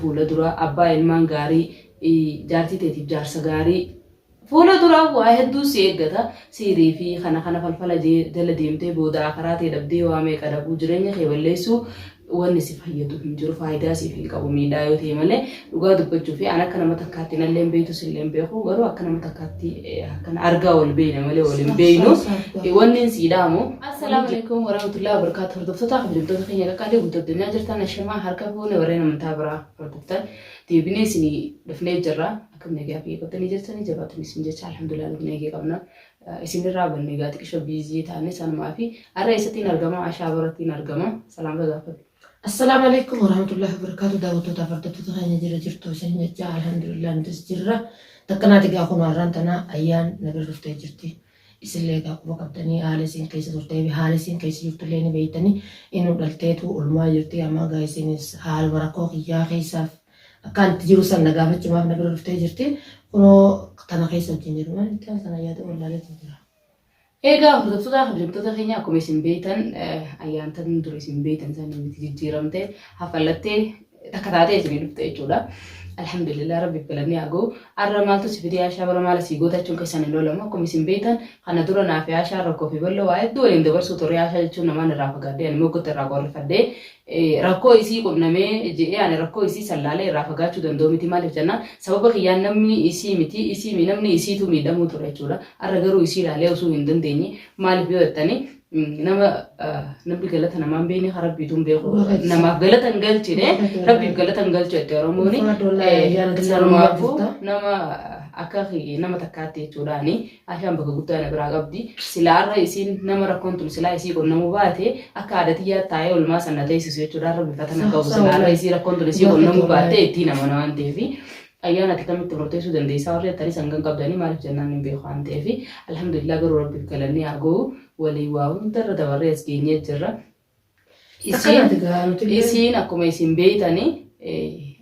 Fuula dura abbaa ilmaan gaarii, jaartii teetiif jaarsa gaarii. Fuula dura waa hedduu si eeggata. Sihrii fi kana kana falfala jala deemtee booda aakhiraa tee dhabdee waa meeqa dhabuu jireenya kee balleessuu wanni si fayyadu hin jiru faayidaa siif hin qabu miidhaa yoo ta'e malee dhugaa dubbachuuf an akka nama takkaatti nallee hin beektu sillee hin beeku garuu akka nama takkaatti Akkan argaa wal beeyna malee wal hin beeynu. Wanneen siidhaa moo? Assalaamu alaikum warahmatullahi wabarakatuh. Hordoftoota kabajamtoota keenya qaqqaalee guutuu addunyaa jirtan ashamaa harka fuune warreen amantaa biraa hordoftan deebinee isin dhufnee jirra. Akkam nagaa fi eeggatanii jirtanii jabaatanii isin jecha alhamdulillah nuti nagaa qabna. Isinirraa banne egaa xiqqisho biizii taane sanumaa fi har'a eessattiin argama ashaa barattiin argama salaamta gaafadhu. Assalaamu alaikum warahmatullahi wabarakatuh daawwattootaaf hordoftoota keenya jira jirtu isin jecha alhamdulillah nutis jirra takkanaati gaa kun har'aan tana ayyaan na bira dhuftee jirti isillee gaa quba qabdanii haala isin keessa turtee fi haala isin keessa jirtullee ni beektanii inuu dhalteetu ulmaa jirti ammaa gaa isinis haaluma rakkoo kiyyaa keessaaf akkaan itti jiru san na gaafachumaaf na bira dhuftee jirti kunoo tana keessa wajjin jiru maalitti haala tana yaada wallaalee jira. Eegaa hordoftoota kabajamtoota keenya akkuma isin beektan ayyaantan dur isin beektan sana miti jijjiiramte hafallattee takka taatee isin dhufte jechuudha. Alhamdulillah rabbi galanni haa ga'u. Arra maaltu si fidee Aashaa bara maala sii goota jechuun keessan hin loolamu akkuma isin beektan kana dura naaf Aashaa rakkoo fi bal'oo waa hedduu waliin dabarsuu turre Aashaa jechuun namaan irraa fagaadde ani moggotti irraa qorrifadde rakkoo isii qunnamee je'ee ani rakkoo isii san laalee irraa fagaachuu danda'u miti maaliif jennaan sababa kiyyaan namni isii miti isii mi namni isiitu miidhamuu ture jechuudha arra garuu isii laalee osuu hin dandeenye maaliif yoo jettanii nama namni galata namaan beekne kan rabbiitu hin beeku namaaf galata hin galchine rabbiif galata hin galchu jette oromooni sanumaafuu nama akka nama takkaatti jechuudhaani Aishaan bakka guddaa na biraa qabdi. Silaa arra isiin nama rakkoon tun silaa isii qonnamu baate akka aada tiyyaatti taa'ee olmaa san na teessisu jechuudha. Arra bifata na qabu silaa arra isii rakkoon tun isii qonnamu baattee ittiin amana waan ta'eef. Ayyaan ati kamitti murteessuu dandeessaa warri jettanii san kan qabdanii maaliif jennaan hin beeku waan ta'eef. Alhamdulillah garuu rabbiif galanni haa gahu waliin waa hundarra dabarree as geenyee jirra. Isiin Akkanaati gaa nuti illee. isiin akkuma isin beeytani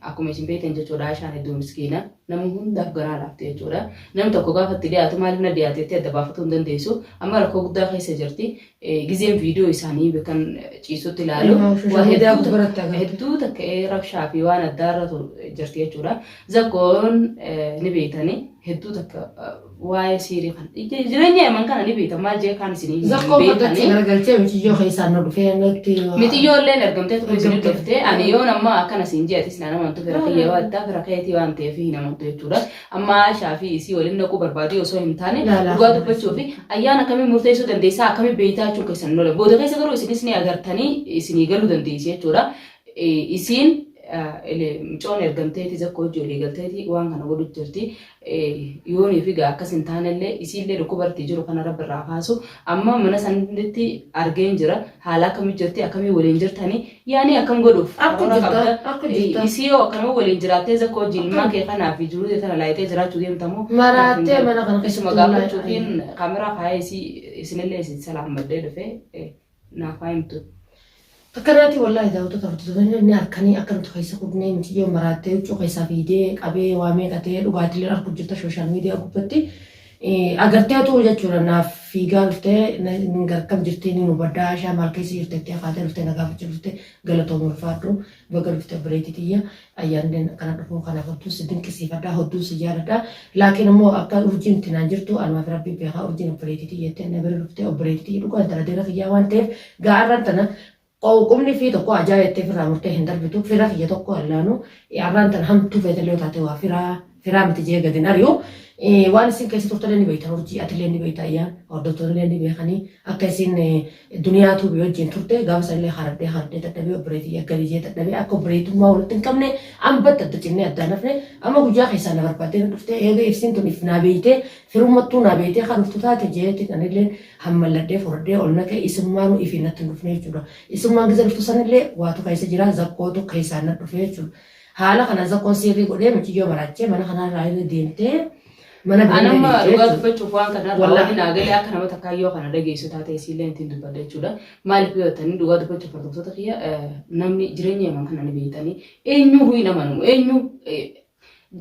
akkuma isin beeytan jechuudha Aishaan hedduu miskiina nama hundaaf garaa laafte jechuudha namni tokko gaafa itti dhiyaatu maaliif na dhiyaate itti adda baafatuu hin dandeessu amma rakkoo guddaa keessa jirti Eh, gizeen viidiyoo isaanii kan ciisutti ilaalu Ilmaa ofii waa shamuudaa hedduu gubbaratti takka- agarti. hedduu takka eh, rabshaa fi waan addaarra tu- jirti jechuudha zakkoon eh, ni beeytani hedduu takka eh, waa'ee siirii kan jireenya yaman kana ni beekta maal jee kaan isin Zakkoo fudhachuu garagalchee mitiyyoo keessaa nu dhufee nutti. Mitiyyoo illee ergamtee turte isin Ergamtee. dhufte ani yoon ammaa akkana siin jee atis naan amantu fira kiyya waan ta'eef fira keetii waan ta'eef hin amantu jechuudha amma Aishaa fi isii waliin dhaquu barbaadee osoo hin taane Laa, laa. dhugaa dubbachuu fi ayyaan akkamii murteessuu dandeessaa akkamii beektaa jechuun keessan hin oole booda keessa garuu isinis ni agartanii isinii galuu dandeessi jechuudha Eh, isiin eh, ile- mucoon ergamteeti zakkoo hojii olii galteeti waan kana godhu jirti Yoonii fi egaa akkas hin taanellee isiillee dhukkubartii jiru kana rabbi irraa kaasu amma mana sanitti argeen jira haala akkamii jirti akkamii waliin jirtani yaanii akkam godhuuf Akka karoora jirta, qabda akka jirta. isii yoo akkanuma waliin jiraattee zakka wajjin ilmaan kee kanaa fi jiruu tee tana laayitee jiraachuu deemtamoo Maraattee mana kana keessatti isuma gaafachuufiin kaameraa kaayee isii isinillee isin salaammadhee dhufee naaf haa himtu. Akkanaatii wallaahi daawwattoota hordoftoota inni harkanii akka nuti keessa kudnee miciyyoon maraattee huccuu keessaa fiidee qabee waa meeqa ta'ee dhugaatilee argu jirta sooshaal miidiyaa gubbatti agartee tuu jechuudha naaf fiigaa dhuftee hin garkam jirtee ni hubaddaa ishaa maal keessa jirtettee akaatee dhuftee na gaafachuu dhuftee galatooma ulfaadhu baga dhufte obboleetii tiyya Ayyaannileen akkana dhufuu kanaaf hedduun si dinqisiifadha, hedduun si jaaladha. Laakiin immoo akka urjiin itti naan jirtu anumaaf rabbi beekaa urjiin obboleetii tiyya jettee na bira dhuftee obboleetii tiyya dhugaa intala dira kiyyaa waan ta'eef gaa'arran tana qumni fi tokko ajaa jettee firraa murtee hin darbitu fira kiyya tokko allaanu arraan tana hamtuu feetallee taate waa firaa Firaa miti jee gadin ari'u. Waan isin keessa turtanii ni beektan urjii atillee ni beekta ayyaan hordoftoonillee ni beekanii akka isin duniyaa tuubii wajjin turte gaafa sanillee hardee hardee dadhabee obboleetii yaggalii jee dadhabee akka obboleetummaa walitti hin qabne ambatta adda cinnee addaan hafne amma guyyaa keessaa na barbaadee na dhuftee eega ibsiin tun if naa beeytee firummattuu naa beeytee kan dhuftu taate jeetiin anillee hammalladhee furdee ol naqee isummaanuu ifi natti hin dhufne jechuudha isummaan gisa dhuftu sanillee waatu keessa jira zakkootu keessaa na dhufe jechuudha Haala kana Zakkoon siirrii godhee muciyyoo maraachee mana kanaa irraa irra deemtee mana bira Anamma deemtee dhugaa jechuudha. dubbachuuf waan kana irraa Wallah. wanni naa galee akka nama takkaa yoo kana dhageessu taate isiillee ittiin dubbadha jechuudha. Maaliif yoo jettanii dhugaa dubbachuuf hordoftoota kiyya eh, namni jireenya yaman kana ni beektanii eenyuu hin amanamu eenyuu eh,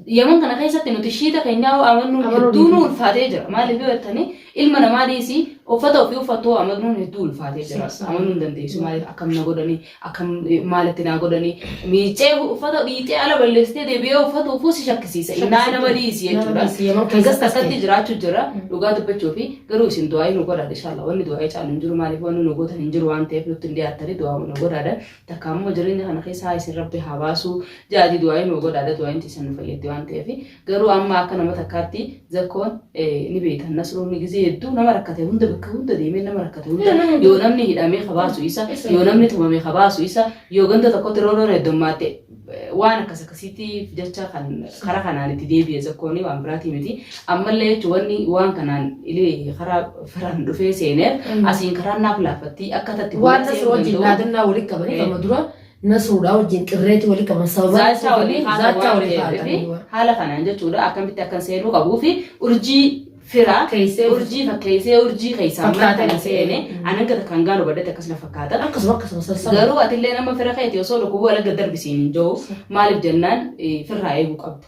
yaman kana keessatti nuti shiita keenyaa hoo amannuun Amanuu hedduu nu dhiisuu. ulfaatee jira. Maaliif yoo jettanii ilma namaa dhiisii uffata ofii uffattuu amannuun hedduu ulfaatee jira. Sirsaa. Amanuu hin dandeessu maaliif akkam na godhanii Akkam maal itti naa godhanii miiccee uffata dhiixee ala balleessitee deebi'ee uffatuufuu si shakkisiisa. Innaa nama dhiisi Nama jechuudha. dhiisi, yeroo Keessas keessatti takkatti ta'e. jiraachuu jira dhugaa dubbachuu fi garuu isin du'aa'ii nu godhaadha inshaallaa wanni du'aa'ii caalu hin jiru maaliif wanni nu gootan hin jiru waan ta'eef nutti hin dhiyaattanii du'aa'uu nu godhaadha. Takka ammoo jireenya kana keessaa isin rabbi haa baasuu ja'atii du'aa'ii nu godhaadha du'aa'iin tiisan nu fayyaddi waan ta'eef. Garuu amma akka nama takkaatti zakkoon ni beeytan nasroonni gizee hedduu nama rakkate hunda bakka hunda deemee nama rakkate hunda yoo namni hidhamee kabaasu isa yoo namni tumame kabaasu isa yoo ganda tokkotti roorroon heddommaatte waan akkas akkasiitiif jecha kan karaa kanaan itti deebi'e zakkoonii waan biraatii miti ammallee jechuun wanni waan kanaan ilee karaa firaan dhufee seeneef asiin karaan naaf laaffattii akka tatti waan nasroo wajjin dhaadannaa walitti qabanii amma dura Nasruudhaa wajjin qirreetii walii qaban sababa Zaachaa walii haala zaachaa waan walii ta'eef fi kaa'atanii haala kanaan jechuudha akkamitti akkan seenuu qabuu fi urjii firaa Fakkeessee urjii fakkeessee urjii keessaa Fakkaatee mana kana dhufee. seene an hanga takkaan gaalu badhate akkas na fakkaata. akkasuma akkasuma sassaba. Garuu atillee nama fira keeti osoo dhukkubuu alagga darbisiin hin jiru maaliif jennaan eh, firraa eeguu qabda.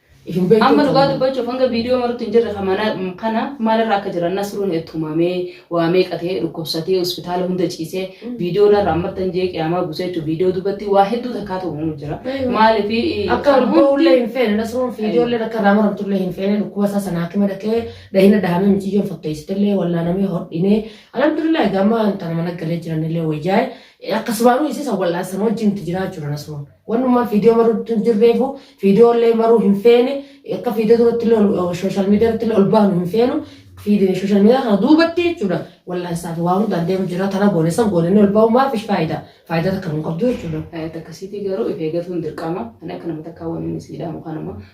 Isin beektu Amma dhugaa taanaan. dubbachuuf hanga viidiyoo marutti hin jirre kana kana maalirra akka jiran nasruun tumamee waa meeqa ta'ee dhukkubsatee hospitaala hunda ciisee viidiyoo narra ammartan jee qiyaamaa buusee jechuun viidiyoo dubbatti waa hedduu takkaa ta'uu jira. Maaliif Akka kan hundi ullee hin feene nasruun fiijoollee akka irraa maramtullee hin feene dhukkuba isaa sana hakima dhaqee dahina dahamee miciyyoon fakkeessitillee wallaanamee hodhinee alhamdulillah egaa amma tana mana galee jiranillee wayyaa'e akkasumaanuu isii san wal'aansan wajjin itti jiraa jira nasruun. Wannuma fiidiyoo maruutti hin jirreefu fiidiyoo illee maruu hin feene akka fiidiyoo duratti illee sooshaal miidiyaa irratti illee ol baanu hin feenu sooshaal miidiyaa kana duubatti jechuudha wal'aansaa fi waa hundaan deemu jira tana goone san goone inni ol bahu maaf ish faayidaa faayidaa takka hin qabdu jechuudha. Akkasiitii garuu if eegatuun dirqama ani akka nama takkaa waan inni siidhaamu kanuma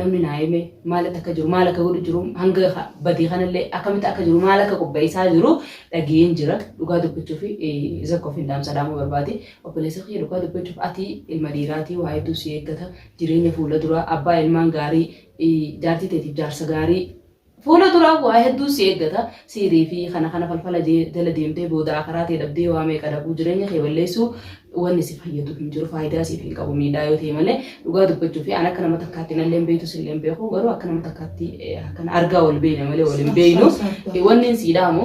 namni naa hime maalitti akka jiru maal akka godhu jiru hanga ha- badii kanallee akkamitti akka jiru maal akka qopheessaa jiru dhageen jira dhugaa dubbachuu fi zakko fi dhaamsa dhaamuu barbaade obboleessa kiyya dhugaa dubbachuuf ati ilma dhiiraatii waa hedduu si eeggata jireenya fuula duraa abbaa ilmaan gaarii eh, jaartii teetiif jaarsa gaarii Fuula duraa waa hedduu si eeggata. Sihrii fi kana kana falfala jala deemtee booda akaraa tee dhabdee waa meeqa dhabuu jireenya kee balleessuu wanni si fayyadu hin jiru faayidaa siif hin qabu miidhaa yoo ta'e malee dhugaa dubbachuu fi an akka nama takkaatti nallee hin beektu sillee hin beeku garuu akka nama takkaatti akkana argaa wal beeyna malee wal hin beeynu wanni sii dhaamu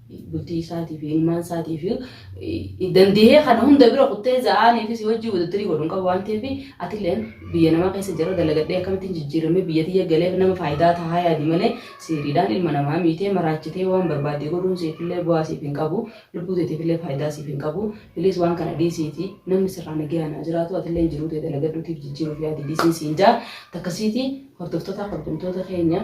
bultii isaatii fi ilmaan isaatii fi dandihee kana hunda bira kuttee za'aanii fi si wajjin wadattarii godhu hin qabu waan ta'eef atilleen biyya namaa keessa jira dalagadhee akkamittiin jijjiiramee biyya tiyya galeef nama faayidaa tahaa yaadi malee siiriidhaan ilma namaa miitee maraachitee waan barbaadde godhuun siifillee bu'aa siif hin qabu lubbuu teetiifillee faayidaa siif hin qabu bilis waan kana dhiisiiti namni sirraa nagayaan haa jiraatu atilleen jiruu tee dalagadhuutiif jijjiiruuf yaadi dhiisiin siin jaa takkasiiti hordoftoota kabajamtoota keenya